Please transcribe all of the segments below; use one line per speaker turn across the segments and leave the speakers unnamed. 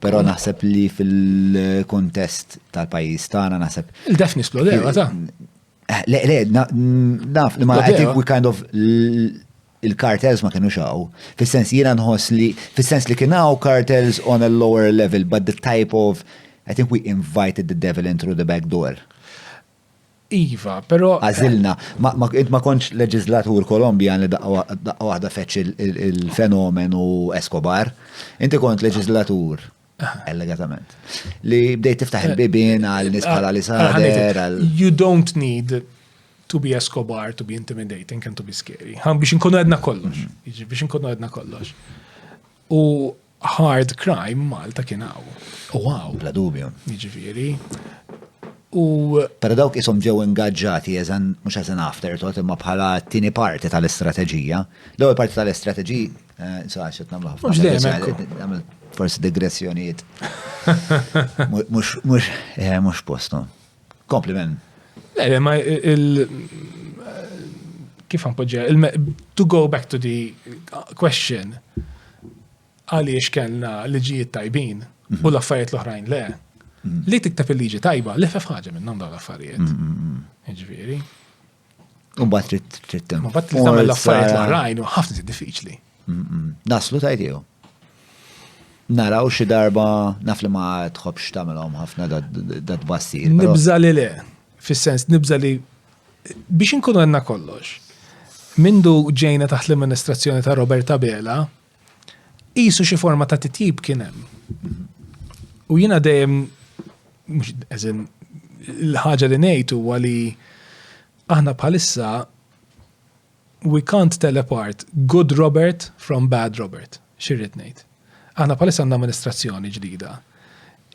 Però naħseb li fil-kuntest tal-pajjiż tagħna naħseb. Il-def nisplodew, ta'.
Eh, le, le,
naf li ma qed we kind of il-kartels ma kienu xaw. Fis-sens jiena nħoss li fis-sens li kien hawn kartels on a lower level, but the type of I think we invited the devil in through the back door.
Iva, pero. Għazilna,
int ma konċ leġizlatur Kolombjan li daqqa waħda feċ il-fenomenu Escobar, inti kont leġizlatur allegatament. Li bdejt tiftaħ il-bibin għal nis bħala li saħder. You don't
need to be Escobar, to be intimidating and to be scary. Għan biex nkunu għedna kollox. Mm. Biex nkunu għedna kollox. U Hard crime Malta kien hawn. U hawn. Bla dubju.
Jiġifieri.
U.
Pero dawk isom ġew ingaġġati eżan mhux eżan after tot imma bħala t-tieni parti tal-istrateġija. L-ewwel parti tal-istrateġija eh, insaqax qed nagħmlu ħafna. Forsi digressjonijiet. Mhux eh, mhux postom. Kompliment. Le, ma
il- kif għanpoġġa, to go back to the question, għaliex kellna liġijiet tajbin u mhm. l-affarijiet l-oħrajn le, mhm. li tiktab il-liġi tajba, li fef ħaġa minn dawn l-affarijiet. Mhm, Ġviri.
U bat trid trid tem. Ma bat trid tagħmel l-affarijiet
l-oħrajn u ħafna diffiċli. Naslu
tajt jew. Naraw xi darba naf li ma tħobx tagħmelhom ħafna dat bassi. Nibża li le,
fis-sens nibża li biex inkunu għandna kollox. Mindu ġejna taħt l-amministrazzjoni ta' Robert Abela, Qisu xi forma ta' titjib kien hemm. U jiena dejjem eżin l-ħaġa li ngħid huwa li aħna bħalissa we can't tell apart good Robert from bad Robert. Xirrid ngħid. Aħna bħalissa għandna amministrazzjoni ġdida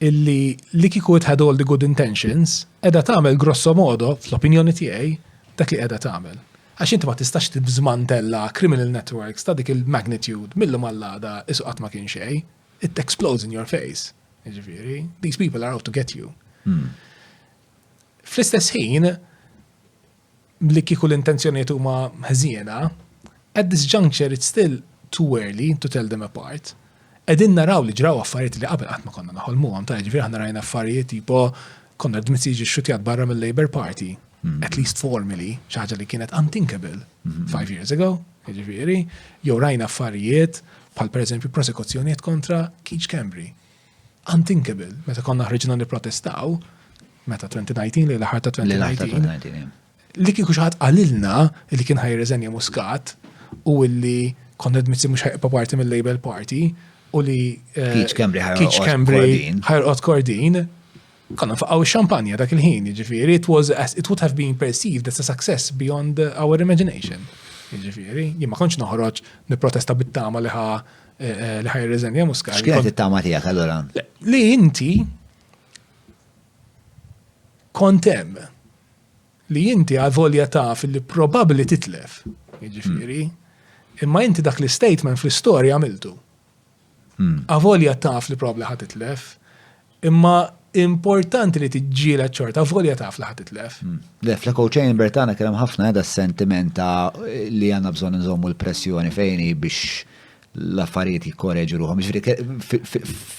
illi li kiku it had all the good intentions edha tagħmel grosso modo fl-opinjoni tiegħi dak li qiegħda tagħmel. Għax inti ma tistax tiżmantella criminal networks ta' dik il-magnitude mil-lum għall-għada isu qatt ma kien xejn. It explodes in your face. Jiġifieri, these people are out to get you. Fl-istess ħin, li kieku l-intenzjonijiet huma ħżiena, at this juncture it's still too early to tell them apart. Qegħdin naraw li ġraw affarijiet li qabel qatt ma konna noħolmuhom, ta' jiġifieri aħna rajna affarijiet tipo Konrad Mizzi jiġi xxutjat barra mill-Labour Party, at least formally, xi ħaġa li kienet unthinkable five years ago, jiġifieri, jew rajna affarijiet bħal pereżempju prosekuzzjonijiet kontra Keith Schembri. Unthinkable, meta konna ħriġna nipprotestaw, meta 2019 lejn l-aħħar ta' 2019, Li kieku xi ħadd qalilna li kien ħajirriżenja Muscat u li Konrad Mizzi mhux ħajqpa parti mill-Label Party u li eh,
Keach Kembri
ħajqgħod Kordin, konna faqgħu x-xampanja dak il-ħin, jiġifieri, it was it would have been perceived as a success beyond our imagination. Jiġifieri, jien ma kontx noħroġ nipprotesta bit-tama li ħa eh, eh, li ħajrriżenja Muscat. X'kienet it-tama tiegħek allura?
Li inti
kont hemm li inti għavolja taf li probabbli titlef, jiġifieri, hmm. imma inti dak l-istatement fl-istorja għamiltu. Għavolja hmm. taf li probabbli ħad titlef, imma importanti li tiġġiela ċorta, volja taf li ħatitlef. Hmm. Le, fl-echo
chamber tagħna kellem ħafna għada s-sentiment ta' li għandna bżonn nżommu l-pressjoni fejni biex l-affarijiet jikkoreġu ruħom. Ġifieri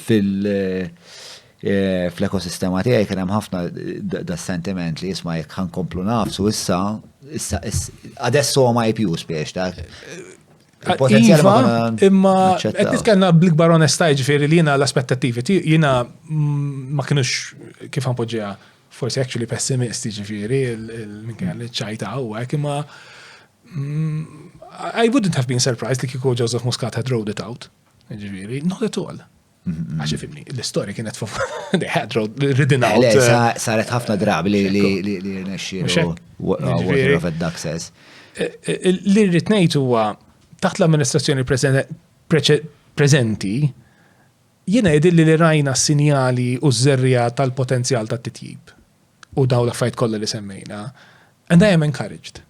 fil- E, fl-ekosistema tiegħi kien hemm ħafna da sentiment li jisma' jekk ħankomplu nafsu issa issa adesso ma jipju spiex ta' Potenzjal
iva, imma qed nitkellna bl-ikbar onesta jiġifieri li jiena l-aspettattivi jiena ma kienux kif ħanpoġġiha forsi actually pessimisti ġifieri minkejja li ċajta u hekk imma mm, I wouldn't have been surprised li kieku Joseph Muscat had rolled it out. Ġifieri, not at all. Għax ifimni, l-istoria kienet fuq they had road ridden out. Le, uh, saret ħafna
drabi li li li li nexxiru water of access. Eh, eh,
li rrid ngħid huwa taħt l-amministrazzjoni preżenti jiena jidilli li rajna s-sinjali u z-zerrija tal-potenzjal tat-titjib u daw l-affajt kollha li semmejna. And I am encouraged.